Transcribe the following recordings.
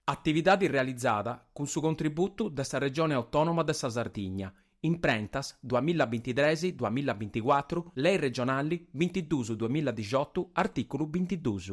Atividade realizada cun su contributu de sa Regione Autònoma de sa Sardigna, imprentas, duas mila bintitres, duas mila binticuatru, Lei Regionali, bintidus, duas mila dixotu, artìculu bintidus.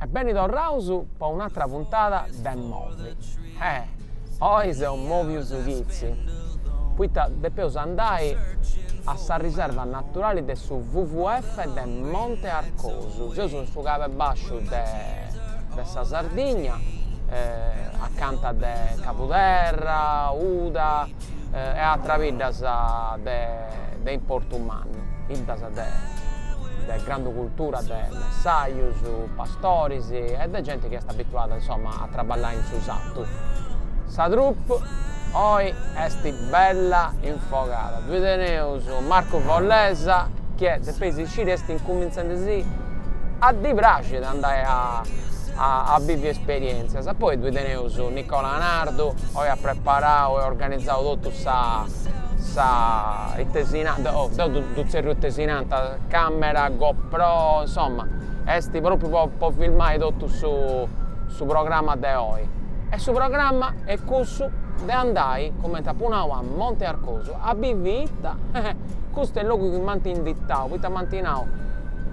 E beni torraus po un'atra puntada de Movi. Eh! Oi seus movius chitzi, poita depeus andai a sa riserva naturali de su WWF de Monte Arcosu. Seus in su Cabu 'e Bàsciu de de sa Sardigna acanta de Cabuderra, Uda e ateras biddas de importu mannu, biddas de de grandu cultura de messajus, pastoris e de genti chi est abituada insomma a traballai in su sartu. Sa troupe oi est bella infogada, ddoe teneus Marco Follesa chi est de peis Ci dd'est incumintzendi si a ddi praxi de andai a bivi esperientzias. Poi ddoe teneus Nicola Nardu, oi at preparau e organizau totu sa sa itesinanta, oh deu ddu tzerriu itesinanta, camera GoPro, insomma, est propriu po po filmai totu su su programma de oi. E su programma est cussu de andai, cumenti apu nau, a Monte Arcosu a bivi ita Custu est logu chi m'ant inditau poita m'ant nau,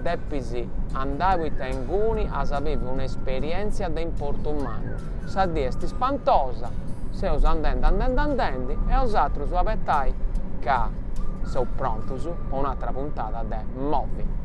Depis andai poita inguni as a bivi un'esperièntzia de importu mannu. Sa dì est ispantosa, seus andendi andendi andendi e bosatrus abetai ca seus prontus po un'atra puntada de Movi.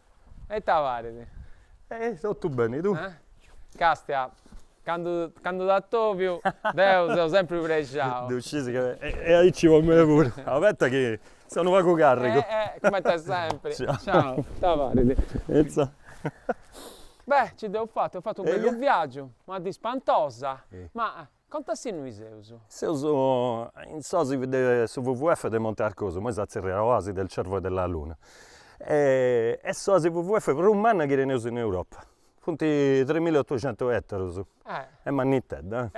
E ita parit? E totu beni, tui? Castia, candu candu t'atòviu deu seu sempri prexau. Ddu scisi ca. E aici po mei puru. Abeta chi seu unu pagu carrigu. E e cumenti est sempri. Ciau, ita parit? Finza. Beh, nci dd'eus fatu, eus fatu unu bellu viaggiu, una dì spantosa, ma Conta-sì innui seus? Seus in s'Oasi de su WWF de Monte Arcosu, imoi si tzerriat Oasi del Cervo e della Luna. Est s'oasi WWF prus manna chi teneus in Europa. Funt tres mila e otocentus etarus. Est mannitedda.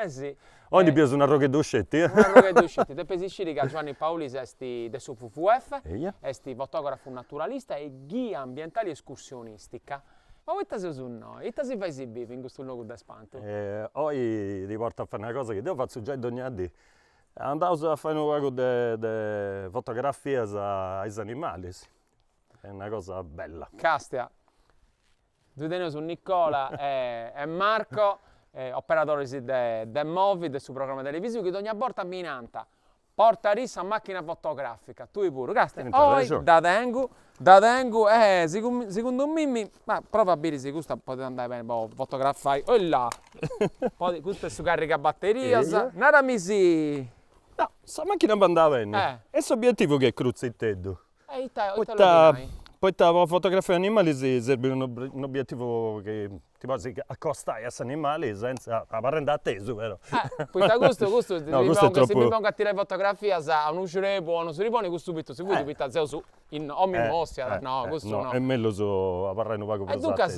Oi ndi bieus un'arrogheddu sceti. Un'arrogheddu sceti. Depis sciri ca Giovanni Paulis est de su WWF, est fotografu naturalista e ghia ambientali escursionistica. Oh poita seus innoi? Ita si fait si biri in custu logu de spantu? Oi ti portu a fai una cosa chi deu fatzu giai dogna dì. Andaus a fai unu pagu de de fotografias a is animalis. Est una cosa bella. Castia, ddoi teneus Nicola e Marco, operadoris de de Movi, de su programma televisiu, chi dogna borta mi nant, Portadì sa machina fotogràfica tui puru, càstia oi dda tengu, dda tengu e segundu mimmi, prova a biri si custa podit andai beni po fotografai, ella, podi, custu est su carriga batterias, narami si. No, sa machina bandat beni est s'obietivu chi est crutziteddu. Poita po fotografai animali si serbit unu unu obiettivu chi ti podis accostai a s'animali senza, abarrendi atesu però. Poita custu custu si mi pongu a tirai fotografias a unu srebu o a unu sirboni custu fuit siguru poita seus in, omini ostiat no custu no. Est mellus abarrai unu pagu prus atesu. E duncas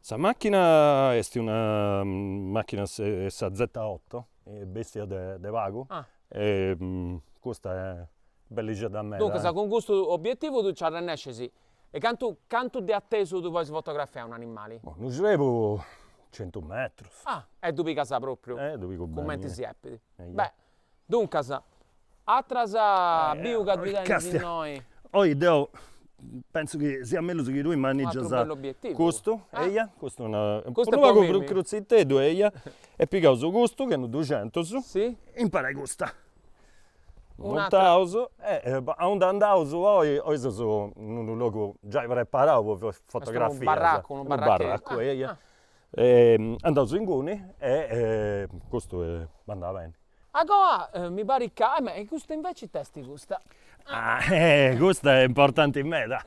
Sa machina est una machina est sa zeta otto, bestia de pagu est custa bellixedda meda. Duncas cun custu obietivu tui nci arrennescisi. E cantu cantu de atesu tui podis fotografai a un'animali? Unu srebu centu metrus. Ah! E ddu pigas propriu cumenti si depit. Beh! Duncas, as giai biu ca ddi tengu innoi. Oi deu pentzu chi siat mellus chi tui manìgias custu, eia, custu unu pagu crutziteddu, eia, e pigaus custu, ch'est unu duxentus, impari a custa. Montaus e aundi andaus oi, oi seus in unu logu giai preparau po fotografias. Est unu barracu, unu barracheddu. Unu barracu, eia. andaus inguni e custu andat beni. A coa mi parit ca, ma e custa inveci it'est custa? Custa est importanti meda,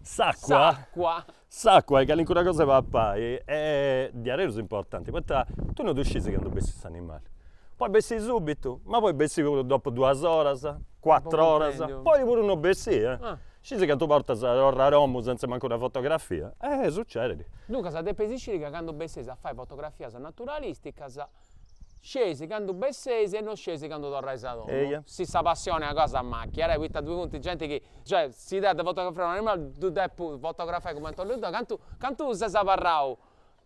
s'acua, s'acua, s'acua e calincuna cosa 'e papai e diaderus est importanti poita tui non ddu scis candu bessit s'animali, podit bessi subitu, ma podit bessi puru dopu duas oras, cuatru oras, podit puru non bessi e Scis cantu bortas torru a domu senza mancu una fotografia? Eh, sucedit. Duncas depis sciri ca candu besseis a fai fotografias naturalisticas, scieis candu besseis e no scieis candu torrais a domu. Eia. Si sa passioni est una cosa macca, eh, poita ddoi funt genti chi, cioè, si deu depu fotografai un animali ddu depu fotografai cumenti 'ollu deu, cantu cantu ses abarrau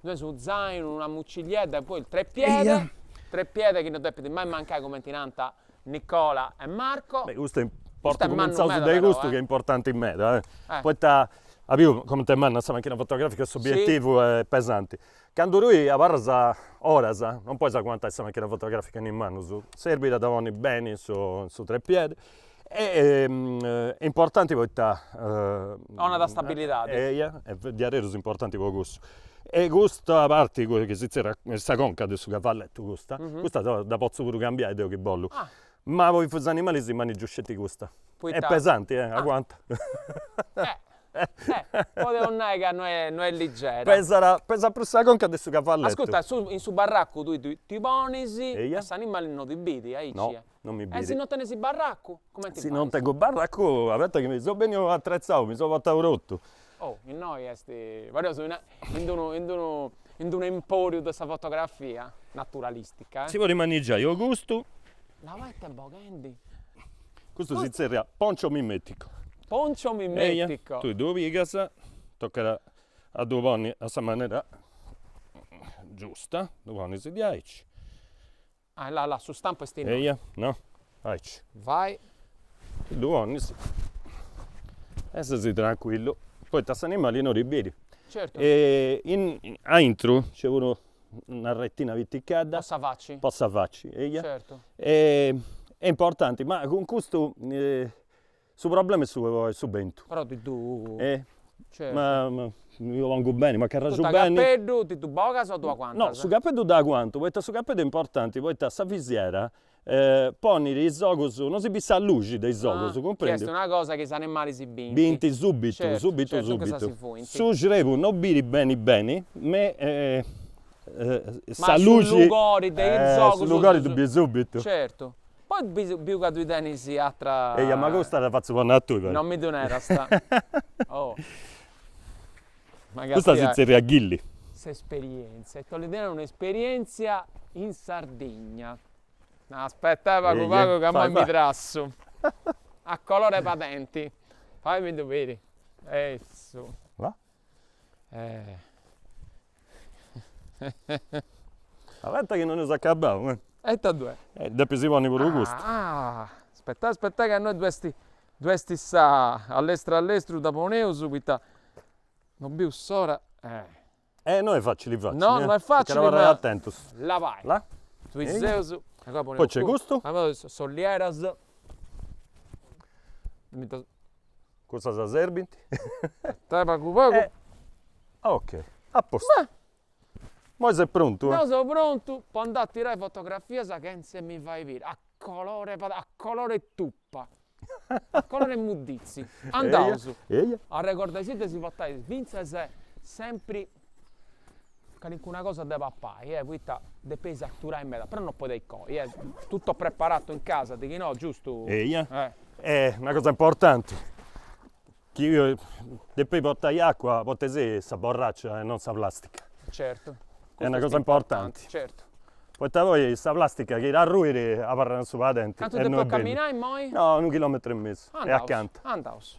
Tenis unu zainu, una mucilliedda e poi trepiedi, trepiedi chi non depit mai mancai cumenti ti nant Nicola e Marco. Beh custu est mannu meda però eh. Ch'est importanti meda eh. Poita as biu comente est manna sa machina fotografica e s'obiettivu est pesanti. Candu tui abarras oras, non podis aguantai sa machina fotografica in manus, serbit a dda ponni beni in su trepiedi E importanti poita. Donat stabilidadi. Eia, est diaderus importanti po cussu. E custa parti chi si zerriat, est sa conca de su cavalletu custa, custa dda potzu puru cambiai deu chi bollu. Ma po is animalis manigiu sceti custa. Poita. Est pesanti, e aguantat. Podeus nai ca no est no est ligera. Pesat, pesat prus sa conca de su cavalletu. Ascurta, in su barracu tui ddi ponis e s'animali no ti bidi, aici. non mi biri. E si non tenes barracu cumenti fais? Si non tengu barracu abeta chi mi so benniu atretzau, mi so portau totu. Oh, innoi est, pareus in in d'unu in d'unu in d'unu emporiu de sa fotografia naturalistica. Si podit manigiai o custu. Là ita est boghendi. Custu si zerriat poncio mimetico. Poncio mimetico. Tui ddu pigas, tocat a a ddu ponni a sa manera giusta, ddu ponis diaici. Ah là là, su stampu est innoi. Eia, no, aici. Vai. Ddu ponis. E ses trancuillu, poita s'animali no ti biri. Certu. E in aintru nc'est puru una retina piticadda. Po sa faci. Po sa faci, eia. Certu. E importanti, ma cun custu Su problema est su est su bentu. Però Titu E Certu ma ma mi ddu pongu beni, m'acarraxu Totu beni cappeddu, ti ddu bogas o ddu No, aguantas? su cappeddu ddu aguantu, poita su cappeddu est importanti, poita sa visiera ponit is ogus, non si bit sa luxi de is ogus, Ah, chi est cumprendi? una cosa chi is animalis bint. Bint subitu, Certu, subitu, certu, duncas subitu. si fuint. Su srebu non biri beni beni, ma Ma sa su luxi lugori de is Eh, su ogus lugori ddu biri subitu. Certu Poi biu ca tui tenis àtera. Eja ma custa dda fatzu ponni a tui. Non mi ddu nerast. Oh. Custa si zerriat ghilli. S'esperientzia, ita 'olit tenni un'esperientzia in Sardigna. Aspetta eh pagu pagu ca imoi mi trassu. A colori 'e padenti. Faimiddu biri. Essu. Là. Eh. Abeta chi non eus acabau eh. E ita ddu est? E depis ponni puru custu. Ah, aspetai aspetai ca innoi ddu est, ddu est sa, a lestru a lestru dda poneus poita no bius s'ora. E no est facili facili. No no est facili ma. Tocat a abarrai atentus. Là, vai. La. Ddoi seus. Poi nc'est custu. Is ullieras. Cussas serbint. Dai pagu pagu. Ok a postu. Moi ses prontu? Deu seu prontu po andai a tirai fotografias chentza 'e mi fai biri a colori a colori 'e tupa. A colori 'e modditzi. Andaus. Eia. Arregordaisì de si portai fintzas sempri calincuna cosa de papai eh poita depeis aturai meda però no podeis coi eh tutto preparato in casa de chi no giustu eia est una cosa importanti chi depeis portai acua portaisì sa borracia e non sa plastica certu est una cosa importanti certu poita poi sa plastica chi t'arruit abarrat in su padenti cantu depu camminai imoi no unu chilometru e mesu est acanta andaus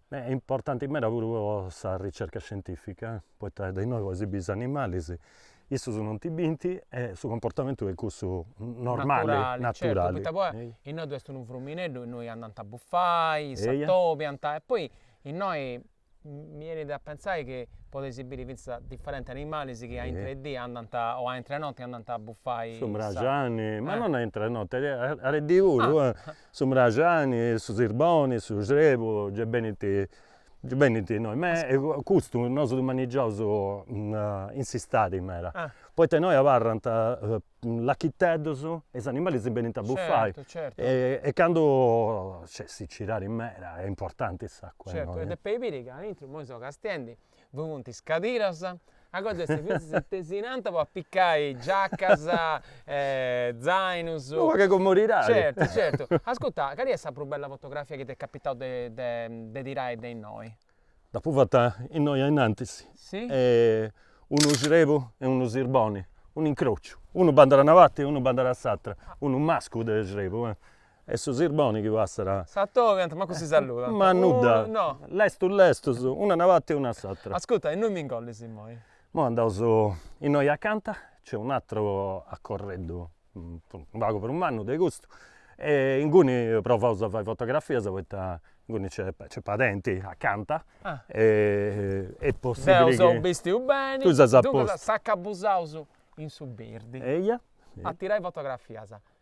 Beh, est importanti meda puru po sa ricerca scientifica, poita de innoi podis biri is animalis, issus non ti binti e su comportamentu est cussu normali, naturali, naturali, poita poi innoi ddu est unu frumineddu, innoi andant a bufai, s'atobiant e poi innoi mi 'enit a pentzai chi podis biri finzas diferenti animalis chi a intra 'e dì andant, o a intra 'e notti andant a bufai, su mraxani, ma non a intra 'e notti a de dì puru Su mraxani, su sirboni, su srebu gei benint, gei benint innoi ma custu nosu ddu manigiaus in s'istadi meda, poita innoi abarrant lachiteddus e is animalis si benint a bufai e candu nc'est sicidadi meda est importanti s'acua innoi. Certu e depeis biri ca aintru imoi seu castiendi ddu funt is cadiras, agoa nc'est fintzas si tesinant po apicai giacas e zainus. Unu pagu 'e comodidadi. Certu certu. Ascurta, cali est sa prus bella fotografia chi t'est capitau de de tirai de innoi? Dd'apu fata innoi ainnantis. Si? unu srebu e unu sirboni, un'incrociu, unu bandat a una parti e unu bandat a s'atra, unu mascu de srebu E su sirboni chi passat. S'atobiant, mancu si saludant. Ma nudda. No. Lestus lestus, unu a una parti e unu a s'atra. Ascurta, innui mi ingollis immoi? Imoi andaus innoi acanta, nc'est un'atru acorreddu unu pagu prus mannu de custu e inguni provaus a fai fotografias poita inguni nc'est nc'est padenti acanta e est possibili chi. Deu seu bistiu beni. Tui ses a postu. Duncas s'acabussaus in su birdi. Eia. A tirai fotografias.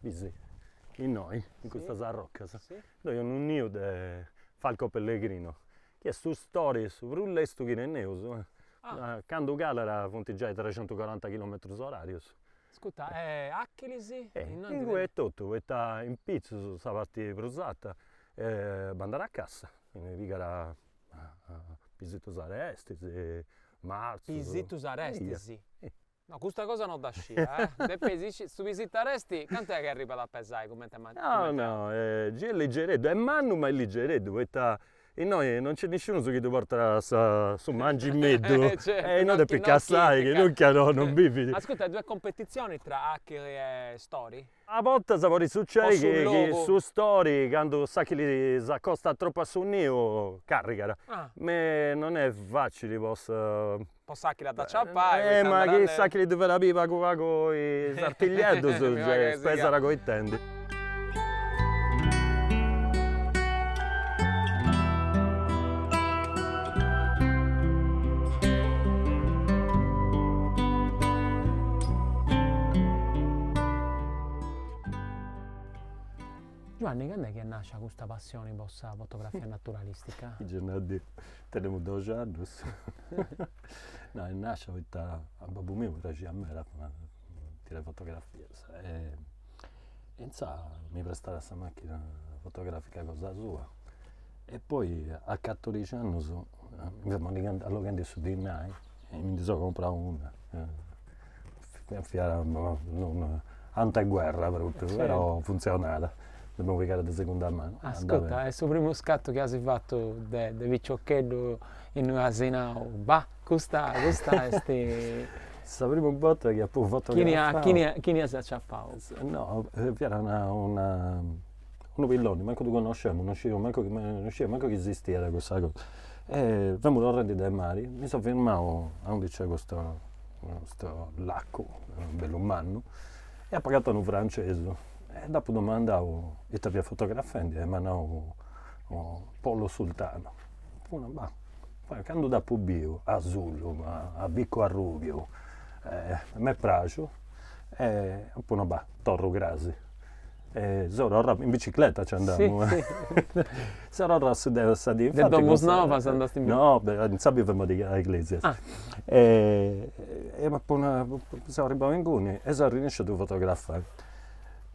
Bisi, innoi, in custas arrocas, ddoi est unu niu de falco pellegrino, chi est su stori su prus lestu chi teneus, candu calat funt giai trexentucoranta chilometrus orarius. Ascurta, e achilis? Inguni etotu, poita in pitzus sa parti prus arta bandat a cassa, ndi pigat pisitus arestis, marzus. Pisitus arestis? No, custa cosa no dda scia, eh! Depis isci, su pisitu aresti, cantu est chi arribat a pesai cumenti a mancu. No, no, gei est ligereddu, est mannu ma est ligereddu, poita innoi non nc'est nisciunus chi ddu portat su mangimeddu, e certu, innoi depis cassai, chi nunca no non bivit. Ascurta, e ddu est competizioni tra achili e stori? A bortas podit sucedi chi su stori candu s'achili s'acostat tropu a su niu carrigat, ma non est facili po s'achili a dd'aciapai, ma chi s'achili ddi fait a biri pagu pagu is artiglieddus gei si pesat coitendi. Giuanni, cand'est chi est nàscia custa passioni po sa fotografia naturalìstica? Gei nau a dì, tenemu doxi annus. No, est nàscia poita a babbu miu praxiat meda tirai fotografias e E intzà mi prestaiat sa machina fotografica cosa sua e poi a catorixi annus alloghendi su dinai mi ndi seu comprau una fiat no ante guerra propriu però funzionat, dd'emu pigada de segunda manu. Ascurta, e su primu scattu chi as fatu de piciocheddu innoi as nau bah Custa custa est sa primu borta chi apu fotografau. Chini a chini as aciapau? No, fiat una una unu pilloni, mancu ddu connoscemu, non scidiaus mancu chi non scidia mancu chi esistiat cussa cosa. E femu torrendi de mari, mi seu firmau a undi nc'est custu custu lacu, bellu mannu, e apu agatau unu francesu e dd'apu domandau ita fiat fotografendi e m'at nau, Pollo Sultano. Ma candu dd'apu biu asulu, a bicu arrubiu, m'est praxu e apu nau, bah, torru crasi. Soror'a, in bicicletta nci andamu. Soror'a su de sa dì. De Domusnovas andast in bicicletta? No, deu insà bivemu a Iglesias. E apu nau, seu arribau inguni e seu arrennesciu a ddu fotografai.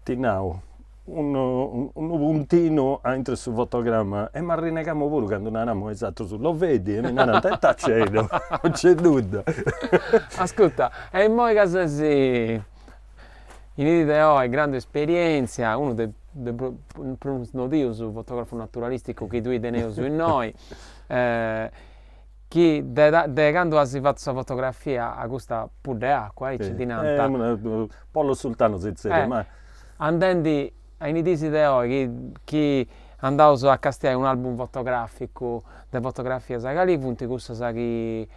Ti nau unu puntinu a intro 'e su fotogramma e m'arrinegamu puru candu naramu a is atrus, lo vedi, e mi narant, e ita nc'est, no nc'est nudda. Ascurta, e immoi ca ses in dì de oi grandu esperientzia, unu de is prus nodius fotografus naturalisticus chi ddui teneus innoi, chi de candu as fatu sa fotografia a custa pudda 'e acua, aici ddi nant. Pollo sultano si zerriat, ma Andendi a is dis de oi chi chi andaus a castiai un'album fotograficu de fotografias, cali funt cussas chi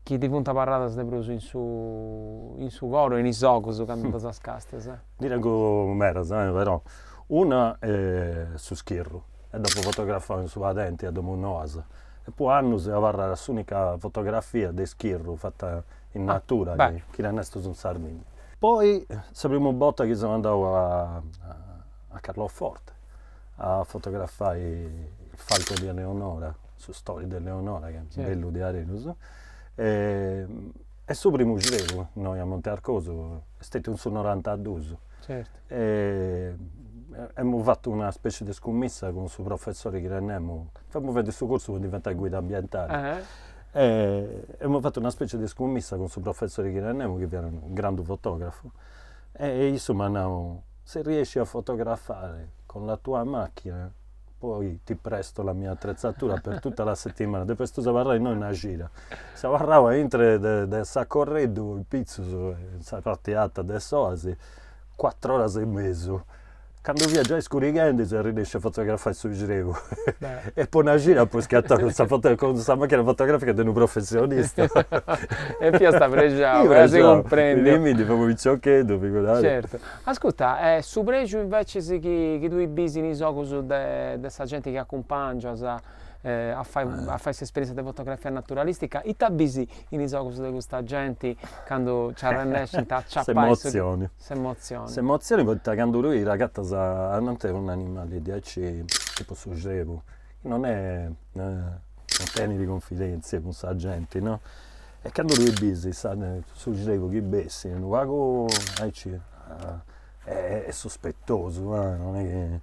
chi ti funt abarradas de prus in su in su coro e in is ogus candu ddas castias? Ndi tengu medas e però, una est su schirru e dd'apu fotografau in su padenti a Domus Noas e po annus est abarrada s'unica fotografia de schirru fata in natura, chi no est stetiu in Sardigna. Poi sa primu borta chi seu andau a Carloforte a fotografai il falco di Eleonora, su stori de Eleonora, chi est bellu diaderus, e su primu xrebu innoi a Monte Arcosu, est stetiu in su norantadus. Amus fatu una specie de scumissa cun su professori chi tenemus, femus fadendi su cursu po diventai guida ambientali E emus fatu una specie de iscummissa cun su professori chi tenemu chi fiat unu grandu fotografu e issu m'at nau, si riesci a fotografare con la tua macchina poi ti presto la mia attrezzatura per tutta la settimana, depestus abarrai innoi una cira. Seu abarrau a intru de s'acorreddu pitzus in sa parti arta de s'oasi cuatru oras e mesu Candu fiat giai scurighendi seu arrinesciu a fotografai su xrebu e po una cira apu scattau sa foto cun sa machina fotografica de unu professionista. E fiast prexau, si cumprendit. Prexau, mi ndi fut unu piciocheddu, figuradi. Certu. Ascurta, e su prexu invecias chi chi tui bis in is ogus de de sa genti chi acumpangias a fai a fai s'esperientzia de fotografia naturalistica, ita bis in is ogus de custa genti candu nci arrennescint a aciapai su S'emotzioni S'emotzioni. S'emotzioni poita candu tui t'agatas ananti un animali diaici tipu su xrebu chi non tenit cunfidenzia cun sa genti no e candu tui bis su xrebu chi bessit unu pagu aici est suspetosu non est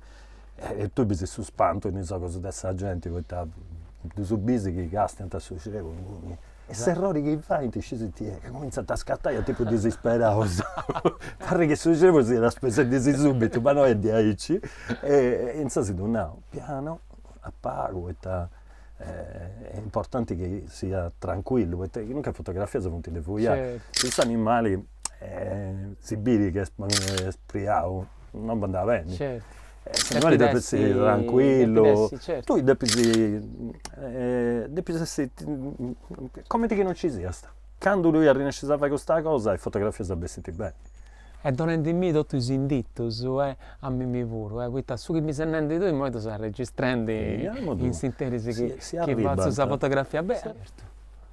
chi e tui bis su spantu in is ogus de sa genti poita ddus bis chi castiant su xrebu e s'errori chi faint scis it'est, ca comintzant a scattai a tipu disisperaus, parrit chi su xrebu siat sparessendi subitu, ma no est diaici, e intzas si ddu nau pianu, a pagu, poita est importanti chi siat trancuillu, poita chi nunca is fotografias funt de fuiai, cussu animali si biri chi est spriau, non bandat beni S'animali depit essi trancuillu. Depit essi, certu. Tui depis depis essi comenti chi no nci siast. Candu tui arrinescis a fai custa cosa is fotografias bessint beni. E donendimì totu is inditus e a mimì puru e poita su chi mi ses nendi tui imoi ddu seu arregistrendi in s'interis chi fatzu sa fotografia beni.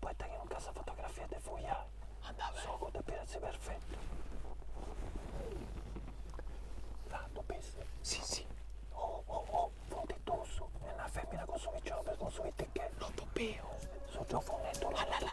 poita chi nunca sa fotografia est de fuiai andat s'ogu depit essi perfetu la ddu bis si si oh oh oh funt dus est una femina cun su picioccu e cun su piticheddu no ddu biu su giovuneddu la la la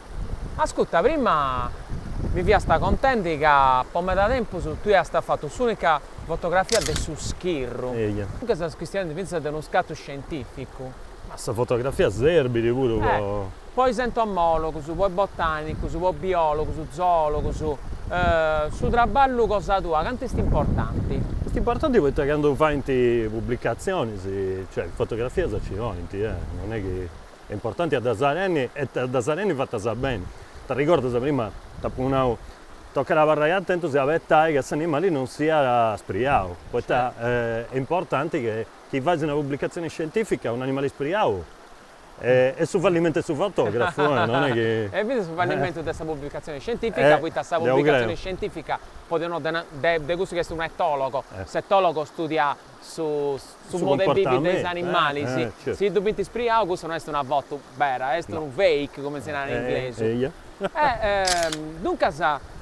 Ascuta, prima mi fiast contendi ca po meda tempus tui ast fatu s'unica fotografia de su schirru. Eja. Duncas ses chistionendi fintzas de unu scatu scientificu. Ma sa fotografia serbit puru. Po is entomologus, po is botanigus, po is biologus, zoologus, su traballu cosa tua cantu est importanti? Est importanti poita candu faint publicatzionis, cioè is fotografias ci 'oint, eh, non è chi. e importanti a ddas tenni e a ddas tenni fatas beni. T'arregordas, prima t'apu nau, tocat a abarrai atentus e abetai ca s'animali non siat spriau, poita est importanti che chi fais una pubblicatzioni scientifica unu animali spriau est su fallimentu 'e su fotografu, non est chi. E finzas su fallimentu de sa pubblicatzioni scientifica, poita sa pubblicatzioni scientifica poneus de cussu chi est un'etologo, s'etologo studiat su modu 'e bivi de is animali, si ddu bint ispriau cussa no est una fotu bera, est unu fake cumenti si narat in inglesu. Duncas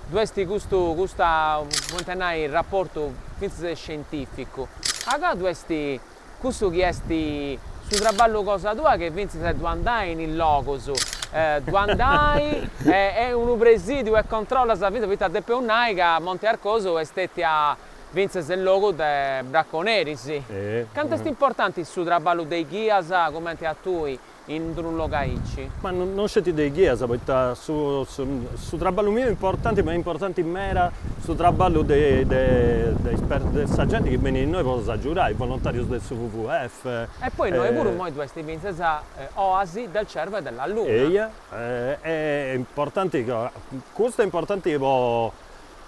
ddoi est custu custa cumenti a nai raportu fintzas de scientificu. Agoa ddoi est cussu chi est su traballu cosa tua chi fintzas a ddu andai in is logus, ddu andai est unu presidiu e controllas fintzas poita depeus nai ca Monte Arcosu est stetia Fintzas unu logu de braconeris. Cantu est importanti su traballu de ghias cumenti a tui in d'unu logu aici? Ma non sceti de ghias poita su traballu miu importanti ma est importanti meda su traballu de sa genti chi benit innoi po nos agiudai, volontarius de su WWF. E poi innoi puru imoi ddoi est fintzas oasi del cervo e della luna. Eia, est importanti, custu est importanti po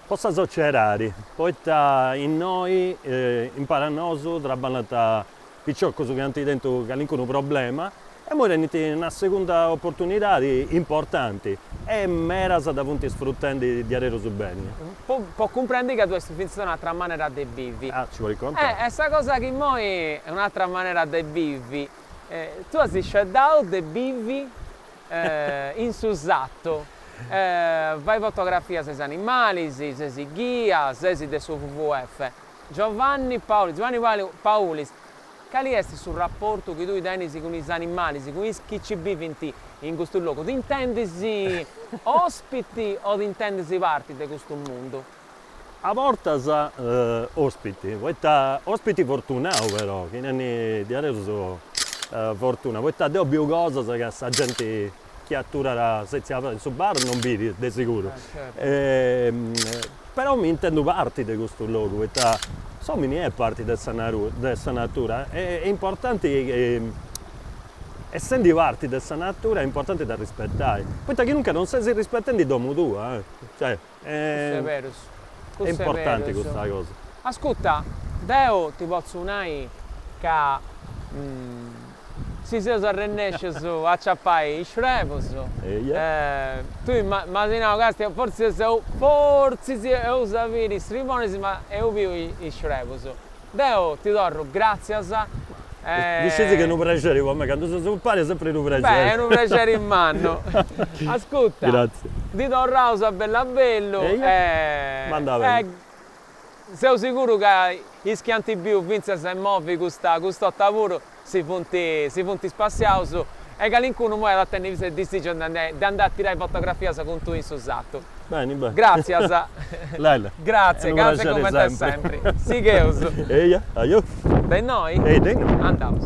Po sa sociedadi, poita innoi impari a nosu traballant piciocus chi ant tentu calincunu problema e imoi tenint una segunda oportunidadi importanti e medas dda funt sfrutendi diaderus beni. Po po cumprendi ca ddoi est fintzas un'atra manera de bivi. Ah, nci podis contai. E sa cosa chi innoi est un'atra manera de bivi, tui as sceberau de bivi? In su satu, fais fotografias a is animalis, ses ghia, ses de su WWF. Giovanni Paulis, Giovanni Paulis, Cali est su raportu chi tui tenis cun is animalis, cun is chi ci bivint in custu logu? T'intendis ospiti o t'intendis parti de custu mundu? A bortas ospiti, poita ospiti fortunau però, chi nendi diaderus fortuna, poita deu biu cosas ca sa genti chi aturat setziu abarrat in su bar non bidit de seguru. Però mi intendu parti de custu logu, poita s'omini est parti de sa naturi, de sa natura est importanti essendi parti de sa natura est importanti dd'arrispetai, poita chi nunca non ses arrispetendi domu tua, cioè Custu est berus. Custu est importanti custa cosa. Ascuta, deu ti potzu nai ca si seus arrennescius a aciapai is srebus, tui m'asi nau ca est, fortzis est, fortzis eus a biri is sribonis ma eus biu is srebus. Deo ti torru gràtzias e. Ddu scis chi est unu prexeri po mei, candu seus impari est sempri unu prexeri. Beh, est unu prexeri mannu. Ascuta. Gràtzias. Ti torraus a bellu a bellu e. Ma andat beni. Seu siguru ca is chi ant biu fintzas imoi custa 'ota puru si funt si funt spassiaus e calincunu imoi at a tenni fintzas is disigius de andai a tirai fotografias cun tui in su satu. Beni, beni. Gratzias. Lele. Gratzias, gasi cumenti a sempri. Sigheus. Eia, ajo. De innoi? Ehi, de innoi. Andaus.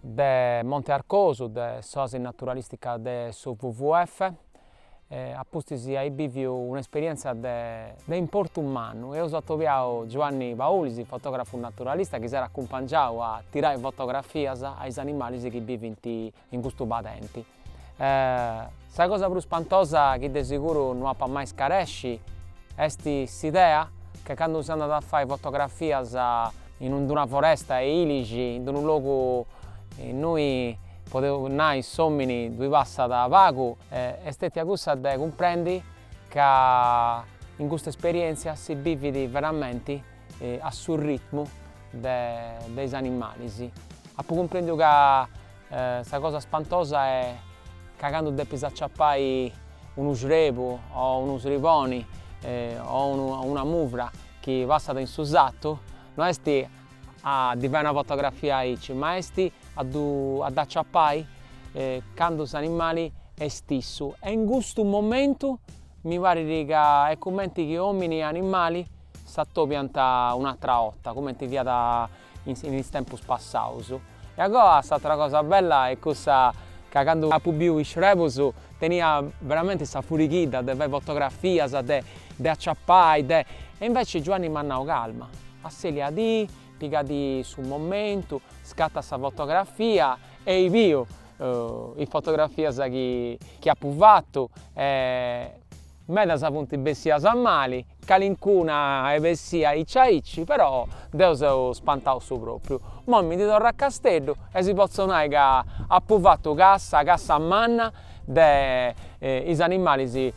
de Monte Arcosu de s'Oasi Naturalìstica de su WWF e a pustis ai bìviu un'esperièntzia de de importu mannu. Eus atobiau Giuanni Paulis, fotògrafu naturalista chi s'at acumpangiau a tirai fotografias a is animalis chi bivint in custu padenti. Sa cosa prus spantosa chi de seguru no ap'a mai scaresci est s'idea ca candu si andat a fai fotografias in una in una foresta 'e ilixi in unu logu innui podeus nai s'omini ddui passat pagu est stetia cussa de cumprendi ca in custa esperienzia si bividi veramenti a su ritmu de is animalis apu cumprendiu ca Sa cosa spantosa è ca candu depis aciapai unu srebu o unu sriboni o una muvra chi passat in su satu, no est a ddi fai una fotografia aici, ma est a dd'aciapai candu s'animali est issu e in custu momentu mi parit ca est cumenti chi omini e animali s'atobiant un'atra 'orta, cumenti fiat in is tempus passaus. E agoa s'atra cosa bella est cussa ca candu apu biu is xrebus tenia veramenti sa furighidda de fai fotografias, de de aciapai, de. E inveci Giuanni m'at nau, calma, asselia ti, pigati su momentu, scatta sa fotografia e i biu is fotografias chi chi apu fatu e medas funt bessias mali calincuna est bessia aici aici però deo seu spantau su propriu, imoi mi ndi torru a Casteddu e si potzu nai ca apu fatu cassa, cassa manna de is animalis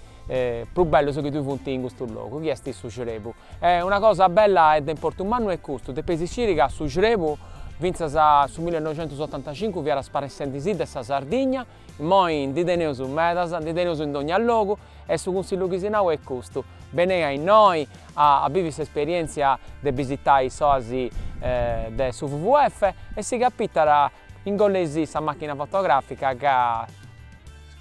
prus bellus chi ddoi funt in custu logu chi est su crebu e una cosa bella e de importu mannu est custu, depeis sciri ca su crebu fintzas a su millinoixentusotantacincu fiat sparessendisì de sa Sardigna Immoi ndi teneus medas, ndi teneus in dogna logu e su cunsillu chi si nau est custu, benei a innoi a a bivi s'esperièntzia de bisitai s'oasi de su WWF e si capitat ingollei·sì sa màchina fotogràfica ca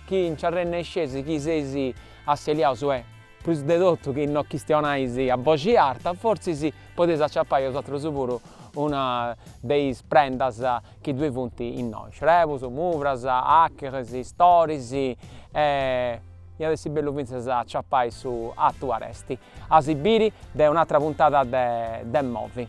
chi nci arrennesceis chi seis asseliaus e Prus de totu chi no chistionais a boxi arta, fortzis podeis aciapai osatrus puru una de is prendas chi ddoi funt innoi, xrebus, muvras, acheris, storis e iat essi bellu fintzas a aciapai su atu aresti. A si biri a un'atra puntada de Movi.